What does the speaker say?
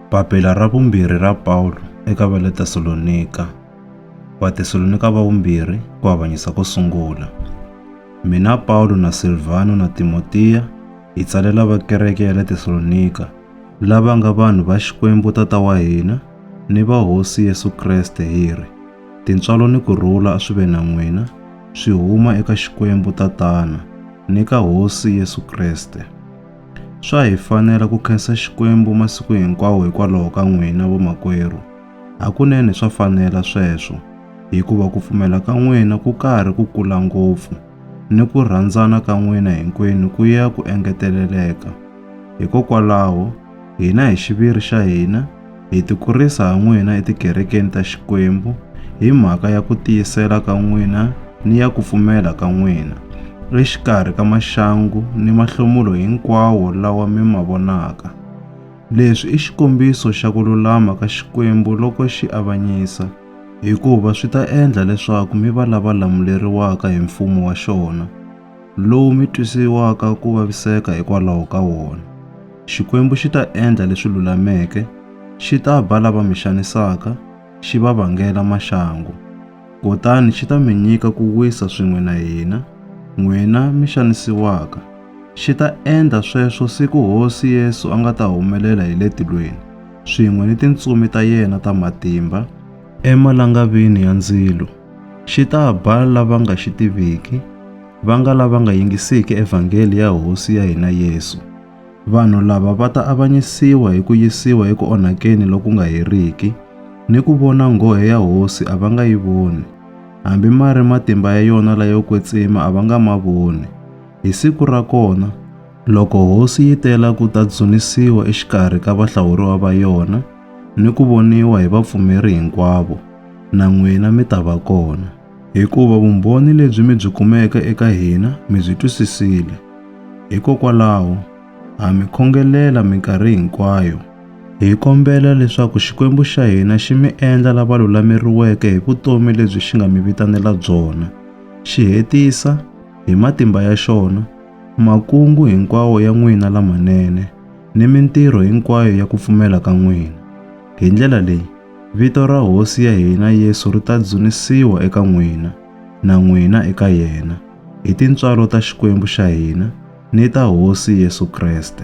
Papila ra vumbirhi ra Pawulo eka va le Tesalonika, Vatesalonika va vumbirhi ku avanyisa ko sungula. Mina Pawulo na Silvano na Timotiya hi tsalela va kereke ya le Tesalonika, lava nga vanhu va Xikwembu Tata wa hina ni va Hosi Yesu Kreste hi ri, Tintswalo ni ku rhula a swi ve na n'wina, swi huma eka Xikwembu Tatana ni ka Hosi Yesu Kreste. Swa hi fanela ku khensa Xikwembu masiku hinkwawo hikwalaho ka n'wina vamakwerhu. Hakunene swa fanela sweswo, hikuva ku pfumela ka n'wina ku karhi ku kula ngopfu, ni ku rhandzana ka n'wina hinkwenu ku ya ku engeteleleka. Hikokwalaho, hina hi xiviri xa hina, Hi tikurisa ha n'wina etikerekeni ta Xikwembu hi mhaka ya ku tiyisela ka n'wina ni ya ku pfumela ka n'wina, exikarhi ka maxangu ni mahlomulo hinkwawo lawa mi ma vonaka. Leswi i xikombiso xa ku lulama ka Xikwembu loko xi avanyisa, hikuva swi ta endla leswaku mi va lava lamuleriwaka hi mfumo wa xona, lowu mi twisiwaka ku vaviseka hikwalaho ka wona. Xikwembu xi ta endla leswi lulameke, xi ta ba lava mi xanisaka, xi va vangela maxangu. Kutani xi ta mi nyika ku wisa swin'we na hina, n'wina mi xanisiwaka. Xi ta endla sweswo siku Hosi Yesu a nga ta humelela hi le tilweni, swin'we ni tintsumi ta yena ta matimba, emalangavini ya ndzilo. Xi ta ba lava nga xi tiviki, va nga lava nga yingisiki evhangeli ya Hosi ya hina Yesu. Vanhu lava va ta avanyisiwa hi ku yisiwa eku onhakeni loku nga heriki, ni ku vona nghohe ya Hosi a va nga yi voni, hambi ma ri matimba ya yona layo kwetsima a va nga ma voni. Hi siku ra kona, loko Hosi yi tela ku ta dzunisiwa exikarhi ka vahlawuriwa va yona, ni ku voniwa hi vapfumeri hinkwavo, na n'wina mi ta va kona, hikuva vumbhoni lebyi mi byi kumeke eka hina mi byi twisisile. Hikokwalaho, ha mi khongelela minkarhi hinkwayo. Hi kombela leswaku Xikwembu xa hina xi mi endla lava lulameriweke hi vutomi lebyi xi nga mi vitanela byona, xi hetisa, hi matimba ya xona, makungu hinkwawo ya n'wina lamanene. ni mintirho hinkwayo ya ku pfumela ka n'wina. Hi ndlela leyi, vito ra Hosi ya hina Yesu ri ta dzunisiwa eka n'wina, na n'wina eka yena, hi tintswalo ta Xikwembu xa hina ni ta Hosi Yesu Kreste.